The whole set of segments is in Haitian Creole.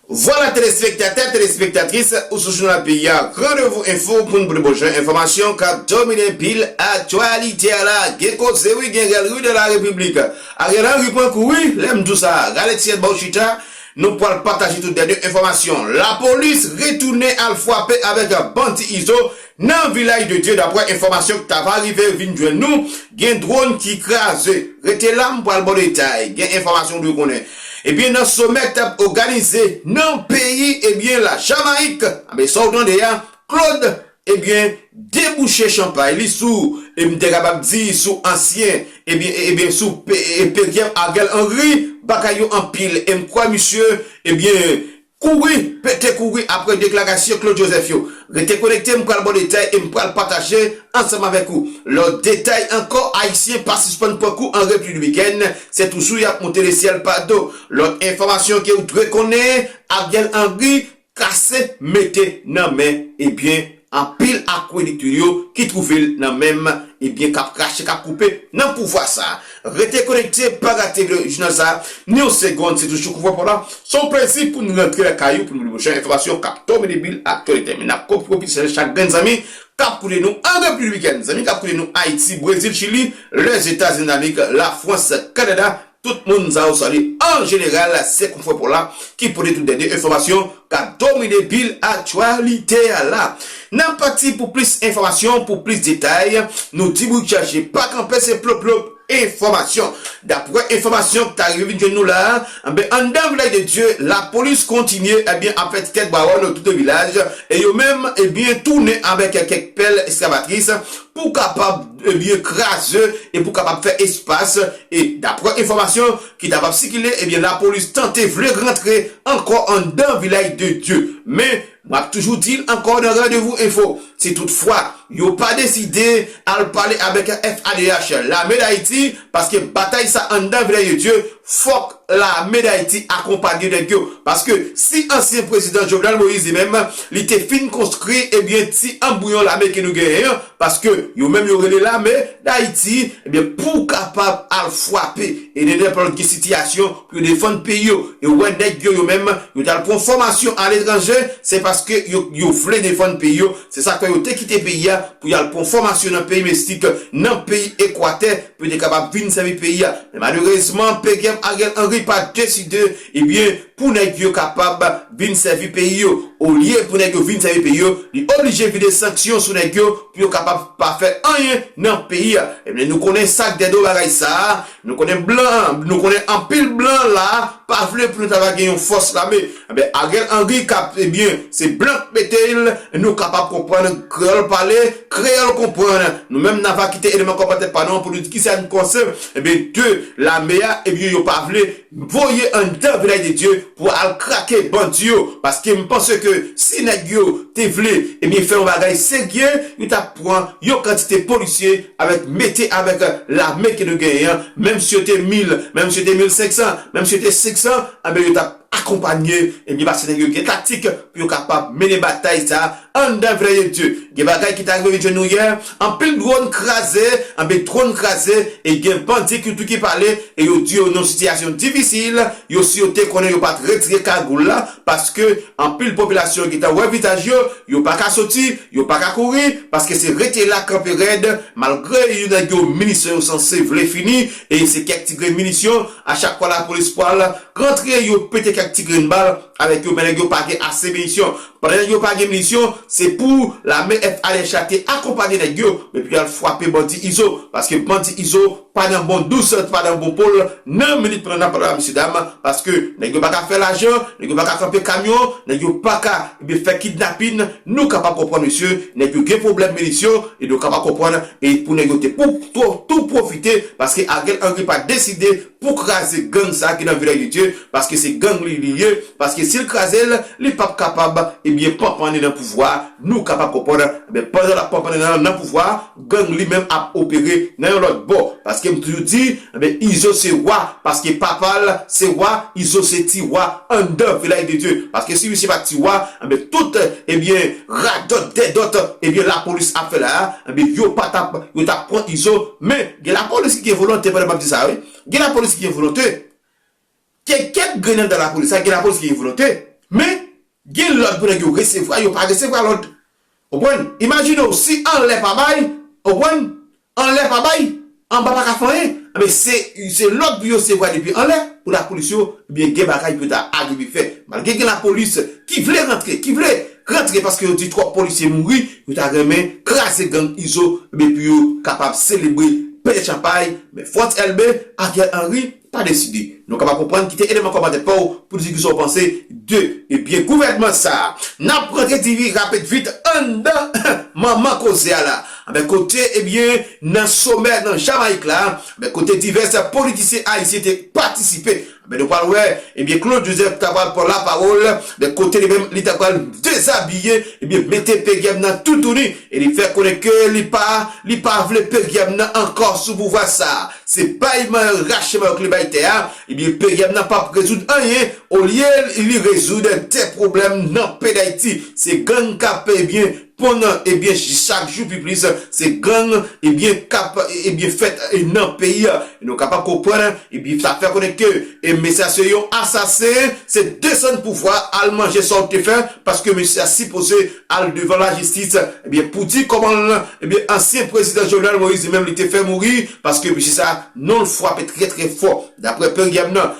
Vwala telespektatè, telespektatris, ou sou Jounal Peyi a, Randevou Enfo pou n pran bon jan enfòmasyon k ap dominen pil aktyalite a la. Gen koze wi, gen rèl wi nan la Repiblik. Ariel Henry pran kou wi, lè m di w sa. Rale ti rèd ba w chita, nou pwal pataje tout dènye enfòmasyon. Lapolis retounen al fwape avèk bandi Izo Nan Vilaj de Dye daprè enfòmasyon k ta va rive vin jwenn nou gen dwon ki kraze. Rete la m pral baw detay gen enfòmasyon w dwe konnen. Ebyen nan somè k tap oganize nan peyi ebyen la Jamayik anben sa w tande a Claude ebyen debouche chanpay li sou m te kapab di sou ansyen ebyen ebyen sou pe peryem Ariel Henry bagay yo anpil em kwè misye ebyen Kouri, pete kouri apre deklarasyon Claude Joseph yo. Rete konekte m pral baw detay e m pral pataje ansanm avèk ou lòt detay ankò Ayisyen pa sispann pran kou an repli Domiken se toujou yap moute le syèl pa do Lòt enfòmasyon ke ou dwe konnen Ariel Henry kase mete nan men ebyen Anpil akwelit li yo ki twouve l nan menm ebyen k ap krache k ap koupe nan pouvwa sa a. Rete konekte pa rate le jounal sa a ni yon segond se toujou Koupe Pòl la s on plezi pou n rantre lakay ou pou n ba nou pwochen enfòmasyon k ap tonbe depi l aktyalite men n ap kopi kopi selè chak grenn zanmi k ap koute nou an Repiblik Dominikèn zanmi k ap koute nou Ayiti Brezil Chili Lèzetazinidamerik Lafrans Kanada Tout moun sa yo salye an jeneral se konfrè Paul la ki pote tout dènye enfòmasyon kap domine bil aktyalite a la. Nan pati pou plis enfòmasyon pou plis detay nou di bourik chache pa kanpe se plop plop enfòmasyon. Daprè enfòmasyon k ta rive vin jwenn nou la anben anndan vilaj de Dye lapolis kontinye ebyen ap fè ti kèk bawòl tout de vilaj e yo menm ebyen tounen avèk kèk pèl eskavatris pou kapab ebyen kraze e pou kapab fè espas e daprè enfòmasyon ki ta pap sikile ebyen lapolis tante vle rantre ankò anndan vilaj de dye men map toujou dil ankò nan randevou enfo si tout fwa yo pa deside al pale avèk FADH lame dayiti paske batay sa anndan vlèye dye fòk lame dayiti akonpanye nèg yo paske si ansyen prezidan jovenel moïse li menm li te fin konstri ebyen ti anbouyon lame ke nou genyen an paske yo menm yo rele lame dayiti ebyen pou kapab al fwape e de nenpòt ki sitiyasyon pou yo defann peyi yo e ou wè nèg yo yo menm yo tal pwan fòmasyon aletranje se paske yo yo vle defann peyi yo. Se sa k fè yo te kite peyi a pou y al pran fòmasyon nan peyi Mesik, nan peyi Ekwatè, pou yo te kapab vin sèvi peyi a. Men malerezman, PGM Ariel Henry pa deside, ebyen, pou nèg yo kapab vin sèvi peyi yo. Olye pou nèg yo vin sèvi peyi yo, li oblije vide sanksyon sou nèg yo pou yo kapab pa fè anyen nan peyi a. Ebyen, nou konnen sa k dèdo bagay sa a, Nou konnen blan nou konnen anpil blan la pa vle pou nou ta va gen yon fòs lame enben Ariel Henry kap ebyen se blan k mete l nou kapab konprann kreyòl pale kreyòl konprann nou menm na va kite eleman kòmantè pa nou an pou nou di kisa n panse ebyen de lame a ebyen yo pa vle M voye anndan Village de Dieu pou al krake bandi yo paske m panse ke si nèg yo te vle ebyen fè yon bagay serye yo tap pran yon kantite polisye avèk mete avèk lame ke nou genyen an menm si yo te 1000 menm si yo te 1500 menm si yo te 500 anben yo tap akonpanye ebyen paske nèg yo gen taktik pou yo kapab mennen batay sa Anndan vle ye Dieu. Gen bagay ki ta rive vin jwenn nou yè, anpil drone kraze, anpil drone kraze e gen bandi ki tou ki pale e yo di yo nan yon sitiyasyon difisil, yo si yo te konnen yo pat retire kagoul la paske anpil popilasyon yo gentan wè vizaj yo, yo pa ka soti, yo pa ka kouri paske se rete la kanpe rèd malgre yo nèg yo minisyon yo sanse vle fini e se kèk ti grenn minisyon, a chak fwa lapolis pwal rantre yo pete kèk ti grenn bal avèk yo men nèg yo pa gen ase minisyon Pandan nèg yo pa gen minisyon se pou lame FARH la te akonpanye nèg yo men pou yal fwape bandi izo paske bandi izo pa nan bon dous l pa nan bon po l nan minit pran nan pran la mesye dam paske nèg yo pa ka fè lajan nèg yo pa ka kanpe kamyon nèg yo pa ka ebyen fè kidnapin nou kapab konprann mesye nèg yo gen pwoblèm minisyon ebyen w kapab konprann e pou nèg yo te pou tou pwofite paske Ariel Henry pa deside pou kraze gang sa ki nan vilaj de Dye paske se gang li li ye paske sil krazel li pap kapab ebyen panpane nan pouvwa nou kapab konprann ebyen pandan lap panpane nan pouvwa gang li menm ap opere nan yon lòt bò paskem toujou di ebyen izo se wa paske papal se wa izo se ti wa anndan vilaj de Dye paske si misye pat ti wa ebyen tout ebyen radòt dèdòt ebyen lapolis ap fè la ebyen yo patap yo tap pran izo men. Gen la polis ki gen volonte pandan map di sa wi gen la polis ki gen volonte gen kèk grenn andan la polis la gen la polis ki gen volonte men gen lòd pou nèg yo resevwa yo pa resevwa lòd ou konprann imajine w si anlè pa bay ou konprann anlè pa bay anba pa ka fè anyen anbyen se se lòd pou yo sevwa depi anlè pou la polis yo ebyen gen bagay pou yo ta arive fè malgre gen la polis ki vle rantre ki vle rantre paske yo di twòp polisye mouri Yo ta renmen kraze gang izo ebyen pou yo kapab selebre pete chanpay men Frantz Elbe, Ariel Henry pa deside. Nou kapab konprann kite eleman kòmantè paw pou di kisa w panse de ebyen gouvènman sa. Nap rantre ti vi rapid vit anndan manman koze a la anben kote ebyen nan somè nan Jamayik la anben kote divès politisyen ayisyen te patisipe. Men nou pral wè ebyen Claude Joseph ta pral pran la pawol de kote li menm li ta pral dezabiye ebyen mete PGM nan toutouni e li fè konnen ke li pa li pa vle PGM nan ankò sou pouvwa sa. Se bay mayòl rache mayòk li bay tè a ebyen PGM nan pap rezoud anyen olye li rezoud de pwoblèm nan pey dayiti se gang kap ebyen Pon an ebyen chak jou pi plis se gang ebyen kap ebyen fèt nan peyi a e nou kapab konprann ebyen sa fè konnen ke e mesye a se yon asasen se desann pouvwa al manje sa w te fè paske mesye a sipoze al devan lajistis ebyen pou di kòman l ebyen ansyen prezidan Jovenel Moïse li menm li te fè mouri paske mesye sa non l fwape trè trè fò daprè peryèm nan.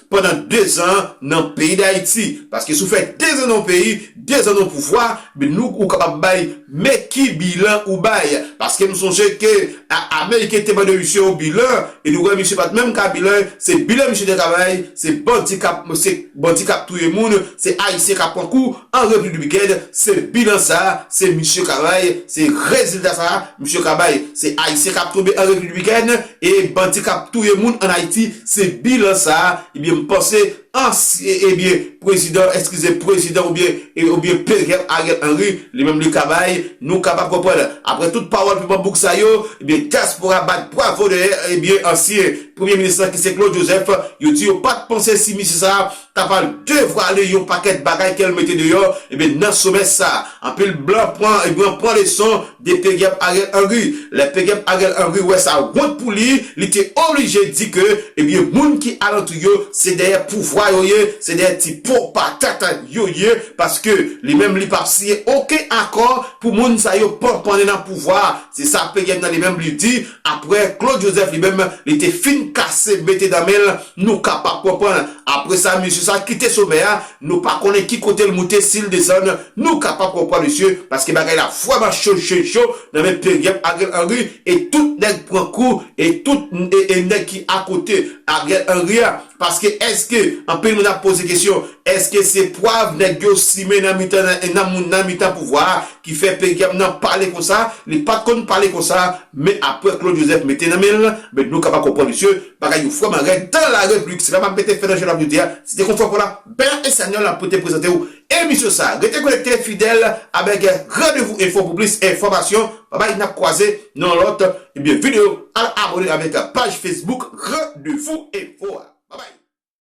pandan 2 zan nan peyi dayiti paske si w fè 2 zan nan yon peyi 2 zan nan yon pouvwa byen nou ou kapab bay men ki bilan ou bay paske m sonje ke ameriken te bay de misye yon bilan e nou wè misye pat menm ka bilan se bilan misye te ka bay se bandi kap se bandi kap touye moun se ayisyen kap pran kou an repiblik domiken se bilan sa se misye ka bay se rezilta sa misye ka bay se ayisyen kap tonbe an repiblik domiken E bandi kap touye moun an Ayiti se bilan sa ebyen m panse ansye ebyen prezidan eskize prezidan oubyen oubyen pezèv Ariel Henry li menm li ka bay nou kapab konprann aprè tout pawòl piman bouk sa yo ebyen dyaspora bat bwavo dèyè ebyen ansyen premye minis lan ki se Claude Joseph yo di yo pat panse si misye sa ta pral devwale yon pakèt bagay kèl mete deyò ebyen nan somè sa anpil blan pran ebyen pran leson de pegèp Ariel Henry lè pegèp Ariel Henry wè sa wont pou li li te oblije di ke ebyen moun ki alantou yo se dèyè pouvwa yo ye se dèyè ti po patat yo ye paske li menm li pap siyen oken akò pou moun sa yo panpannen nan pouvwa se sa pegèp nan li menm li di Apre Claude Joseph li menm li te fin kase mete dan men l nou kapab konprann. Apre sa mesye sa kite somè a nou pa konnen ki kote l moute si l desann nou kapab konprann mesye paske bagay la vrèman cho cho cho nan men peryòp Ariel Henry e tout nèg pran kou e tout e nèg ki akote Ariel Henry a paske èske anpil moun ap poze kesyon èske se pwav nèg yo simen nan mitan nan moun nan mitan pouvwa a Ki fè peyam nan pale konsa, li pat konn pale konsa, men aprè Claude Joseph mete nan menl, men nou kapab konprann misye, bagay yo vrèman rèd dan la repliblik, se pa map mete fè nan je nap di a, se te kon fè fò la, Bèya Espanyòl ap pote prezantew emisyon sa, rete konekte fidèl avèk Randevou Enfo pou plis enfòmasyon, babay nap kwaze nan yon lòt ebyen videyo, al abone avèk paj Facebook Randevou Enfo a, babay.